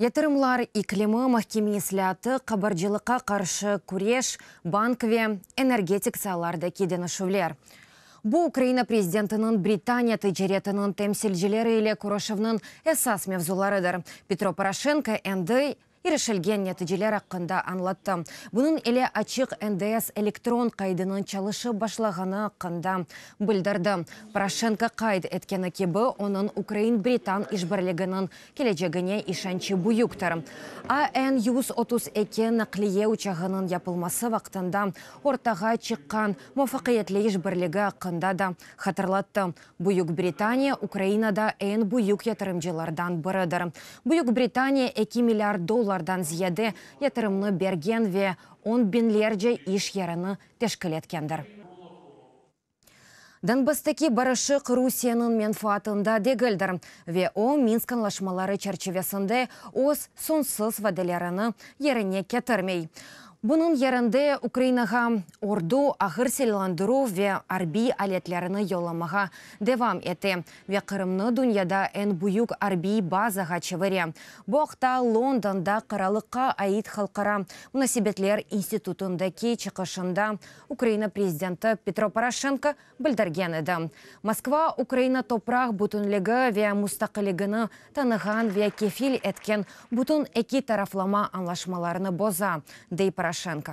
Yatırımlar iklimi, mahkeme islâatı, qabarcılıqqa qarşı küreş, bank ve energetik saylardaki deñişüvler. Bu Ukraina prezidentiniñ Britaniya ticaretiniñ temsilcileri ile körüşüvniñ esas mevzularıdır. Petro Poroşenko endi irişilgen neticeler aqqında añlattı. Bunıñ ile Açıq NDS elektron qaydınıñ çalışıp başlağanı aqqında bildirdi. Poroşenko qayd etkeni kibi, onıñ ukrain-britan işbirliginiñ kelecegine işençi büyüktir. AN yüz otuz eki naqliye uçağınıñ yapılması vaqtında ortağa çıqqan muvafaqiyetli işbirligi aqqında da hatırlattı. Büyük Britaniya Ukrainada eñ büyük yatırımcılardan biridir. Büyük Britaniya eki milliard dollardan ziyade yatırımnı bergen ve on biñlerce iş yerini teşkil etkendir. Donbasstaki barışıq Rusiyeniñ menfaatında degildir ve o, Minsk añlaşmaları çerçivesinde öz soñsuz vadelerini yerine ketirmey. Bunıñ yerinde Ukrainağa ordu, ağır silâlandıruv ve arbiy aletlerini yollamağa devam ete ve Qırımnı dünyada eñ büyük arbiy bazağa çevire, bu aqta Londonda Qaralıqqa ait halqara munasebetler institutındaki çıqışında Ukraina prezidenti Petro Poroşenko bildirgen edi. Moskva Ukraina topraq bütünligi ve mustaqilligini tanığan ve kefil etken bütün eki taraflama añlaşmalarını boza, dey Poroşenko.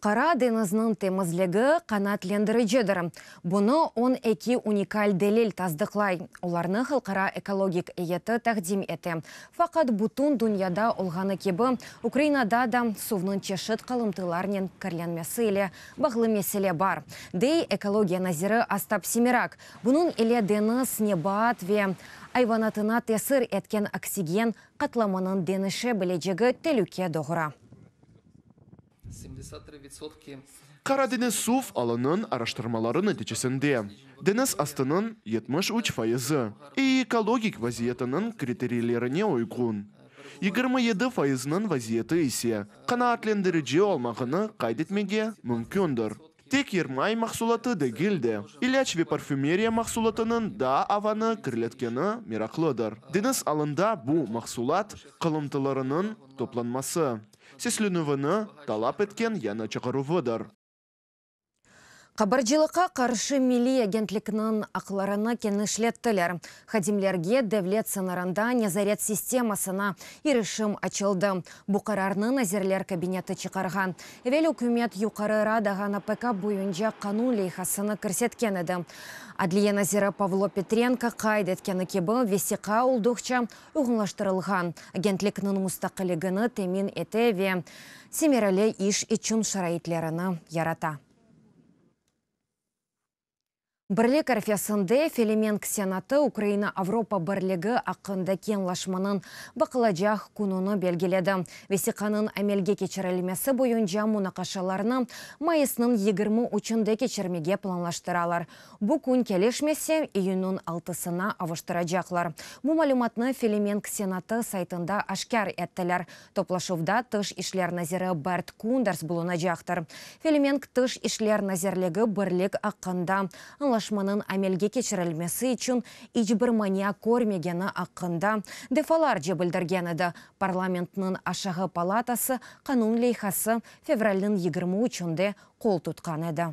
Qara deñizniñ temizligi qanaatlendiricidir. Bunı on eki unikal delil tasdıqlay, olarnı Halqara ekologik eyyeti taqdim ete. Faqat bütün dünyada olğanı kibi, Ukrainada da suvnıñ çeşit qalımtılarnen kirlenmesi ile bağlı mesele bar, dey ekologiya naziri Ostap Semirak. Bunıñ ile deñiz, nebat ve ayvanatına tesir etken oksigen qatlamınıñ deñişe bilecegi telüke doğura. Qaradeniz suv alınıñ araştırmaları neticesinde, deñiz astınıñ yetmiş üç fayızı, EEkologik vaziyetiniñ kriteriylerine uyğun, yigirmi yedi fayıznıñ vaziyeti ise qanaatlendirici olmağını qayd etmege mümkündir. Tek yermay mahsulatı degil de, ilâc ve parfümeriya mahsulatınıñ da avanı kirletkeni meraqlıdır. Deñiz alında bu mahsulat qalıntılarınıñ toplanması, seslenüvini talap etken yañı çağıruvıdır. Qabarcılıqqa qarşı milliy agentlikniñ aqlarını kenişlettiler. Hadimlerge devlet sıñırında nezaret sistemasına irişim açıldı. Bu qararnı Nazirler Kabineti çıqarğan. Evel ükümet Yuqarı Radağa NPK boyunca qanun leyhasını kirsetken edi. Adliye naziri Pavlo Petrenko qayd etkeni kibi, vesiqa olduqça uyğunlaştırılğan, agentlikniñ mustaqilligini temin ete ve semereli iş içün şaraitlerini yarata. Birlik arfesinde Felemenk Senatı Ukraina-Avropa birligi aqqındaki añlaşmanıñ baqılacaq kününi belgiledi. Vesiqanıñ amelge keçirilmesi boyunca munaqaşalarnı mayısnıñ yigirmi üçünde keçirmege planlaştıralar. Bu kün kelişmese, iyünniñ altısına avuştıracaqlar. Bu malümatnı Felemenk Senatı saytında aşkâr ettiler. Toplaşuvda Tış işler naziri Bert Kunders bulunacaqtır. Felemenk Tış işler nazirligi birlik aqqında añlaşmanıñ amelge keçirilmesi içün iç bir mania körmegeni aqqında defalarca bildirgen edi, parlamentniñ aşağı palatası qanun leyhası fevralniñ yigirmi üçünde qol tutqan edi.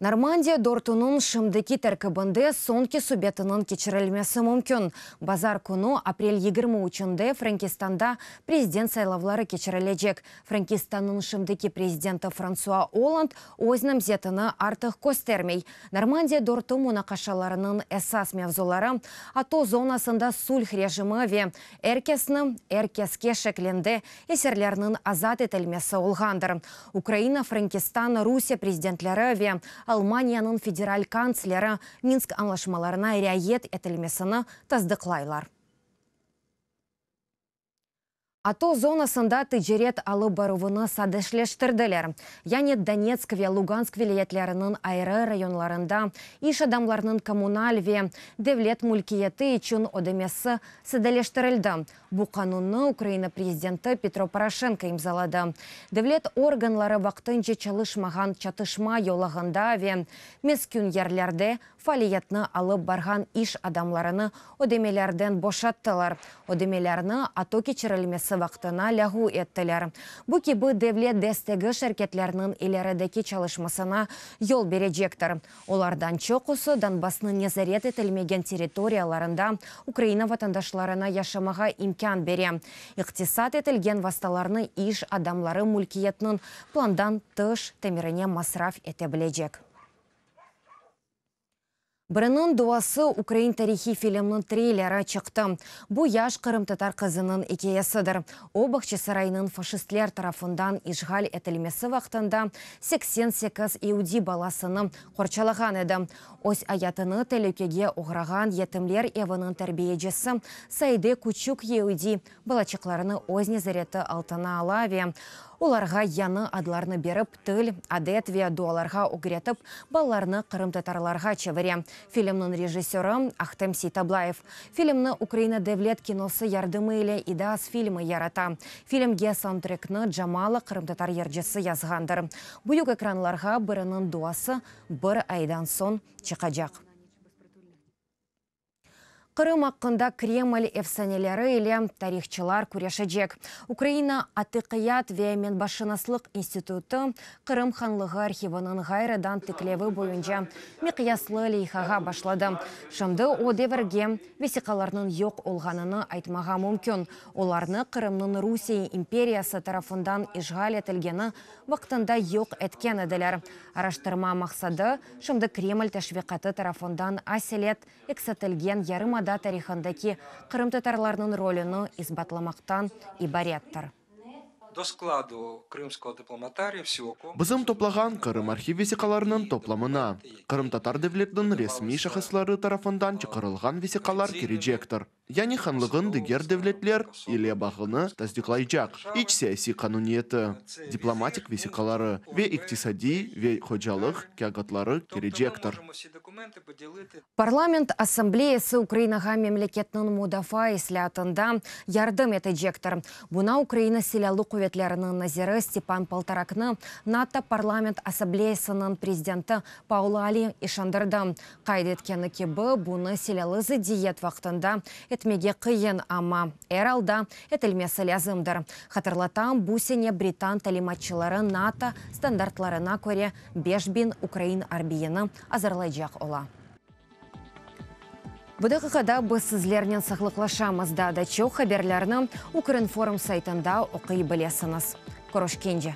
Normandiya dörtüniñ şimdiki terkibinde soñki subetiniñ keçirilmesi mümkün. Bazar künü, aprel yigirmi üçünde Frankistanda prezident saylavları keçirilecek. Frankistannıñ şimdiki prezidenti Fransua Olland öz namzetini artıq köstermey. Normandiya dörtü munaqaşalarınıñ esas mevzuları, ato zonasında sulh rejimi ve er kesni, er keske şeklinde esirlerniñ azat etilmesi olğandır. Ukraina, Frankistan, Rusiye prezidentleri ve Almaniyanıñ federal kantsleri Minsk añlaşmalarına riayet etilmesini tasdıqlaylar. Ato zonasında ticaret alıp baruvını sadeşleştirdiler, yani Donetsk ve Lugansk vilâyetleriniñ ayrı rayonlarında iş adamlarnıñ kommunal ve devlet mülkiyeti içün ödemesi sadeleştirildi, Bu qanunnı Ukraina prezidenti Petro Poroşenko imzaladı. Devlet organları vaqtınca çalışmağan çatışma yolağında ve meskün yerlerde faaliyetni alıp barğan iş adamlarını ödemelerden boşattılar, ödemelerni ato keçirilmesi vaqtına lâğu ettiler. Bu kibi devlet destegi şirketlerniñ ilerideki çalışmasına yol berecektir. Olardan çoqusı Donbassnıñ nezaret etilmegen territoriyalarında Ukraina vatandaşlarına yaşamağa imkân bere, iqtisat etilgen vastalarnı iş adamları mülkiyetniñ plandan tış tamirine masraf ete bilecek. Biriniñ duası ukrain tarihiy filmniñ treyleri çıqtı. Bu, yaş qırımtatar qızınıñ ikâyesidir. O, Bağçasaraynıñ faşistler tarafından işğal etilmesi vaqtında seksen sekiz iudiy balasını qorçalağan edi. Öz ayatını telükege oğrağan yetimler eviniñ terbiyecisi Saide küçük iudiy balaçıqlarını öz nezareti altına ala ve olarğa yañı adlarnı berip, til, adet ve dualarğa ögretip, balalarnı qırımtatarlarğa çevire, filmniñ rejissörı, Ahtem Seytablayev. Filmni Ukraina devlet kinosı yardımı ile İDAS filmi yarata. Filmge saundtrekni Jamala qırımtatar yırcısı yazğandır. Büyük ekranlarğa Biriniñ duası bir aydan soñ çıqacaq. Qırım aqqında Kreml efsaneleri ile tarihçılar küreşecek. Ukraina Atıqiyat ve menbaşınaslıq institutı Qırım Hanlığı arhiviniñ ğayrıdan tiklevi boyunca miqyaslı leyhağa başladı. Şimdi o devirge vesiqalarnıñ yoq olğanını aytmağa mümkün, olarnı Qırımnıñ Rusiye imperiyası tarafından işğal etilgeni vaqtında yoq etken ediler. Araştırma maqsadı, şimdi Kreml teşviqatı tarafından aselet eksitilgen yarımada tarihındaki qırımtatarlarnıñ rolüni isbatlamaqtan ibarettir. Do skladu Krımskого diplomatariya vsyoku. Bizim toplağan Qırım arhiv vesiqalarınıñ toplamına qırımtatar devletiniñ resmiy şahısları tarafından çıqarılğan vesiqalar kirecektir. yani hanlığın diger devletler ile bağını tasdiqlaycaq iç siyasiy qanuniyeti, diplomatik vesiqaları ve iqtisadiy ve hocalıq kâğıtları kirecektir. Parlament assambleyası Ukrainağa memleketniñ mudafaa islâatında yardım etecektir. Buña Ukraina Silâlı quvetleriniñ naziri Stepan Poltoraknı NATO parlament assambleyasınıñ prezidenti Paul Allen işandırdı. Qayd etkeni kibi, bunı silâlı zıddiyet vaqtında etmege qıyın, amma, er alda, etilmesi lâzımdır. Hatırlatam, bu sene britan talimatçıları NATO standartlarına köre beş biñ ukrain arbiyini azırlaycaq ola. Bu daqiqada biz sizlernen saqlıqlaşamız, daa da çoq haberlerni Ukrinform saytında oquy bilesiñiz. Körüşkence!